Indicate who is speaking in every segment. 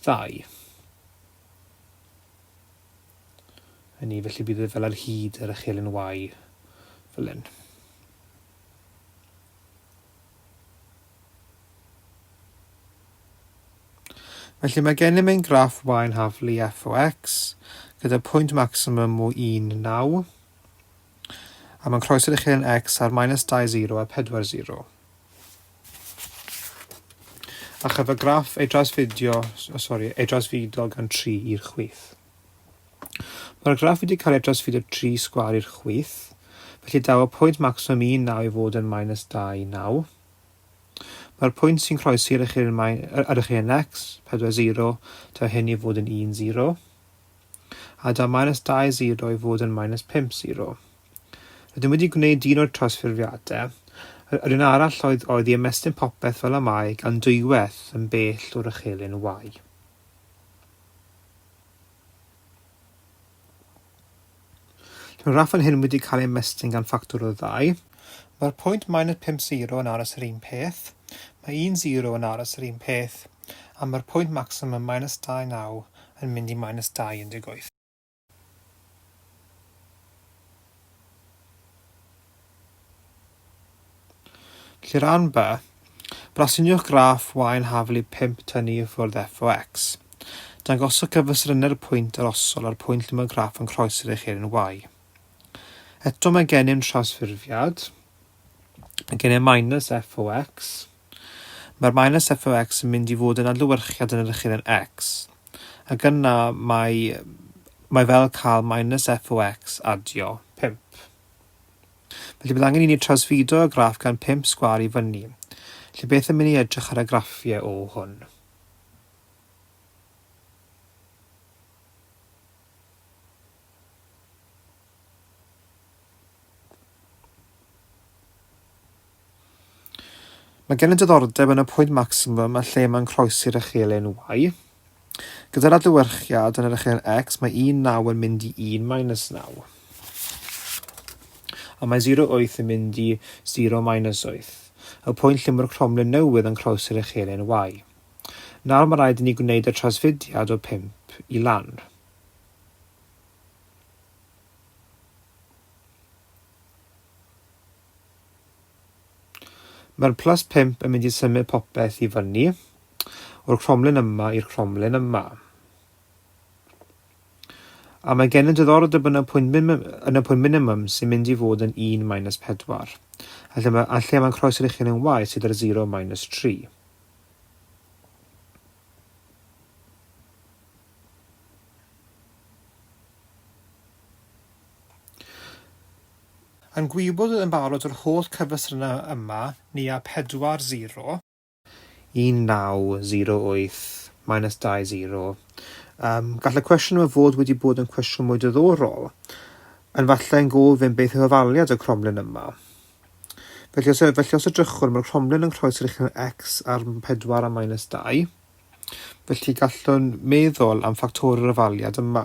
Speaker 1: Ddau. Hynny, felly bydd e fel ar hyd yr echelin Y, fel hyn. Felly mae gennym ein graff y yn haflu f o x gyda pwynt maximum o 1, 9, a mae'n croeso'r uchelyn x ar minus 2, 0 a 4, 0. A chyf y graff ei drasfidio, o, sori, ei drasfido gan 3 i'r chwith. Mae'r graff wedi cael ei drasfidio 3 sgwar i'r chwith, felly daw y pwynt maximum 19 i fod yn minus 29. Mae'r pwynt sy'n croesi ar eich un ar eich un x, 40, daw hyn i fod yn 10. A daw minus 20 i fod yn minus 50. Rydym wedi gwneud un o'r trawsffurfiadau. Yr un arall oedd oedd i ymestyn popeth fel y mae gan dwywaith yn bell o'r ychelyn Y. Lle mae'r rhaff yn hyn wedi cael ei ymestyn gan ffactor o ddau. Mae'r pwynt minus 5 sero yn aros yr un peth, mae un sero yn aros yr un peth, a mae'r pwynt maximum minus 29 yn mynd i minus 28. Lle rhan B, brasiniwch graff wain haflu 5 tynnu i ffwrdd f o x. Dangoswch cyfystrynau'r pwynt arosol a'r pwynt lle mae'r graff yn croesi'r echeiryn y. Eto mae gennym trawsffurfiad. Mae gennym minus f o x. Mae'r minus f o x yn mynd i fod yn adlewyrchiad yn yr ychydden x, ac yna mae, mae fel cael minus f o x adio 5. Felly bydd angen i ni trawsfudo y graff gan 5 sgwar i fyny. Felly beth yn mynd i edrych ar y graffiau o hwn? Mae gen i diddordeb yn y pwynt maximum a lle mae'n croesi'r echelin Y. Gyda'r adlewyrchiad yn yr echelin X, mae 19 yn mynd i 1 minus 9. A mae 08 yn mynd i 0 minus 8, y pwynt lle mae'r cromlin newydd yn croesi'r echelin Y. Nawr mae rhaid i ni gwneud y trasfudiad o 5 i lan. Mae'r plus pump yn mynd i symud popeth i fyny, o'r cromlin yma i'r cromlin yma. A mae gen yn diddordeb yn y pwynt, yn y pwynt minimum sy'n mynd i fod yn 1 minus 4. A lle, mae, a lle mae'n croes yr uchel yn waith sydd yr 0 minus 3. Yn gwybod yn barod yr holl cyfestrynau yma, ni a pedwar sero. 1908 minus 20. Yym, gall y cwestiwn yma fod wedi bod yn cwestiwn mwy diddorol, yn falle yn gofyn beth yw hafaliad y cromlin yma. Felly os, felly os edrychwn, mae'r cromlin yn croesi'r uchel x ar 4 a minus 2, felly gallwn meddwl am ffactorau'r hafaliad yma.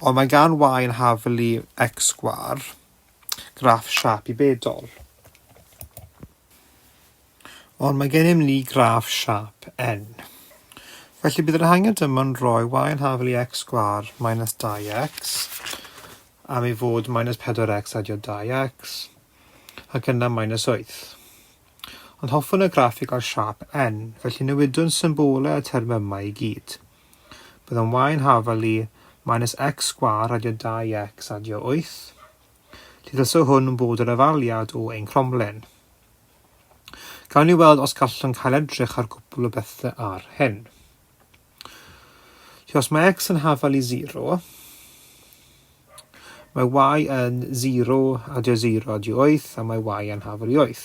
Speaker 1: Ond mae gan Waun Hafely X-Gwar graff siâp i bedol. Ond mae gennym ni graff siâp N. Felly bydd yr hangen dyma'n rhoi Waun Hafely X-Gwar minus 2x am ei fod minus 4x adio 2x ac yna minus 8. Ond hoffwn y graff i gael siâp N, felly newidwn symbolau y termau yma i gyd. Bydd yn y yn hafal i, minus x sgwâr adio 2x adio 8. Llithasw hwn bod yr afaliad o ein cromlen. Gawn ni weld os gallwn cael edrych ar gwbl o bethau ar hyn. Felly os mae x yn hafal i 0, mae y yn 0 adio 0 adio 8 a mae y yn hafal i 8.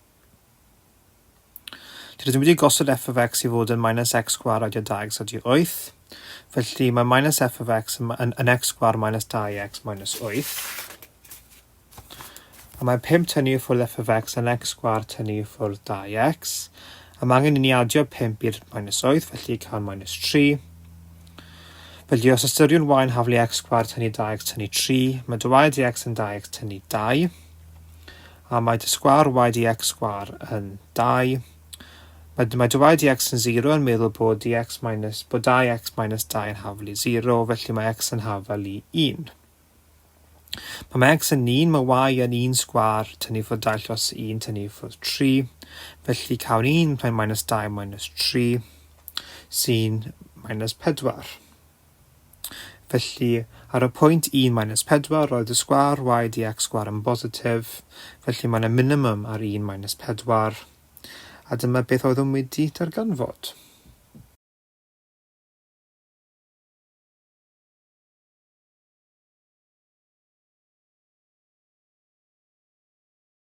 Speaker 1: Dwi ddim wedi gosod f of x i fod yn minus x sgwar a dy dau x a dy wyth. Felly mae minus f of x yn, yn, yn x sgwar minus 2x minus 8. A mae 5 tynnu i ffwrdd f of x yn x sgwar tynnu i ffwrdd 2x. A mae angen i ni adio 5 i'r minus 8, felly cael minus 3. Felly os ystyriwn y yn haflu x sgwar tynnu 2x tynnu 3, mae dy y dx yn 2x tynnu 2. A mae dy sgwâr y y x sgwâr yn dau. Mae dy mae dy y y x yn sero yn meddwl bod y x minus, bod dau y x minus dau yn hafel i sero, felly mae x yn hafel i un. Pan mae x yn un, mae y yn un sgwâr, tynnu ffwrdd dau llos un, tynnu ffwrdd tri. Felly cawn un, mae'n minus dau, minus tri, sy'n minus pedwar. Felly, ar y pwynt 1 minus 4, roedd y sgwâr y dx sgwâr yn bositif, felly mae yna minimum ar 1 minus 4. A dyma beth oeddwn wedi darganfod.